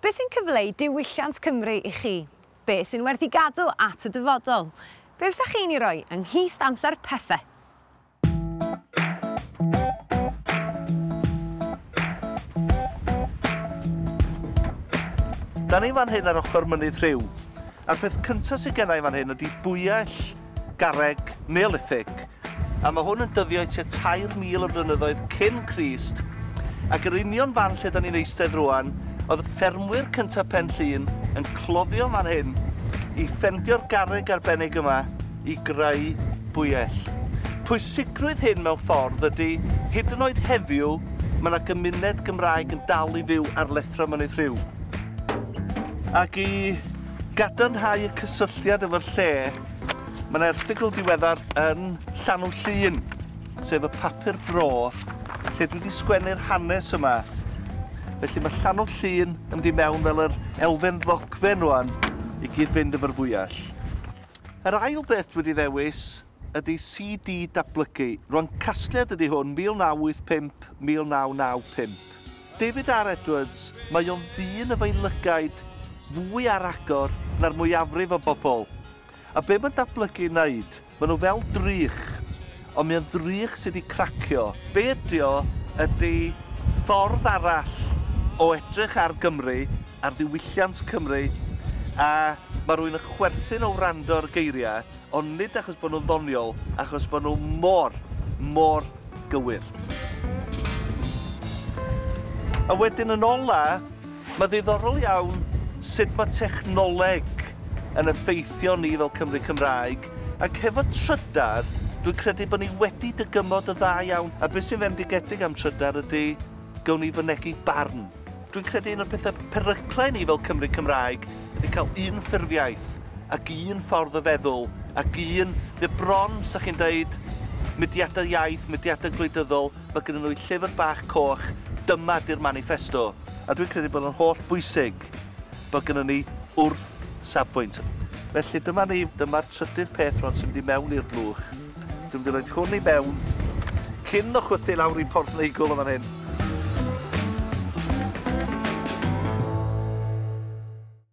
Beth sy'n cyfleu diwylliant Cymru i chi? Beth sy'n werth i gadw at y dyfodol? Be fysach chi'n ei roi yng nghist amser pethe? Da ni fan hyn ar ochr Mynydd Rhiw, a'r peth cynta sy gennai fan hyn ydi bwyell. Garreg, Neolithig, a mae hwn yn dyddio i tua 3,000 o flynyddoedd cyn Crist, ac yr union fan lle da ni'n eistedd rwan, oedd y ffermwyr cyntaf Pen Llŷn yn cloddio fan hyn i ffendio'r garreg arbennig yma i greu bwyell. Pwysigrwydd hyn mewn ffordd ydy, hyd yn oed heddiw, mae yna gymuned Gymraeg yn dal i fyw ar lethra Mynydd Rhiw. Ac i Gadarnhau y cysylltiad efo'r lle, mae yna erthygl diweddar yn Llanw Llun, sef y papur bro, lle dwi wedi sgwennu'r hanes yma. Felly mae Llanw Llun yn mynd i mewn fel yr elfen ddogfen rwan i gyd-fynd efo'r fwyell. Yr ail beth dwi wedi ddewis ydy CD Datblygu. Ro'n casgliad ydy hwn, 1985, 1995. David R Edwards, mae o'n ddyn y fe'i lygaid fwy ar agor na'r mwyafrif o bobl. A be mae'n datblygu i wneud? Mae nhw fel drych. Ond mae o'n ddrych sy 'di cracio. Be ydy o ydy ffordd arall o edrych ar Gymru, ar ddiwylliant Cymru, a mae rhywun yn chwerthin o wrando ar y geiriau, Ond nid achos bod nhw'n ddoniol, achos bod nhw mor, mor gywir. A wedyn yn ola, mae ddiddorol iawn sut mae technoleg yn effeithio ni fel Cymry Cymraeg, ac hefo trydar, dwi'n credu bod ni wedi dygymod yn dda iawn, a beth sy'n fendigedig am trydar ydy, gawn ni fynegi barn. Dwi'n credu un o'r pethe peryclau ni fel Cymry Cymraeg ydi ca'l un ffurfiaeth ac un ffordd o feddwl ac un... Mae o bron, 'sa chi'n deud, mudiada iaith, mudiada gwleidyddol, ma' gynnyn nhw 'u llyfr bach coch, dyma 'di'r maniffesto. A dwi'n credu bod o'n holl bwysig bod gynnon ni wrth safbwynt. Felly dyma ni, dyma'r trydydd peth rŵan sy'n mynd i mewn i'r blwch. Dwi'n mynd i roed hwn i mewn cyn o chwythu lawr i porth neigl yn fan hyn.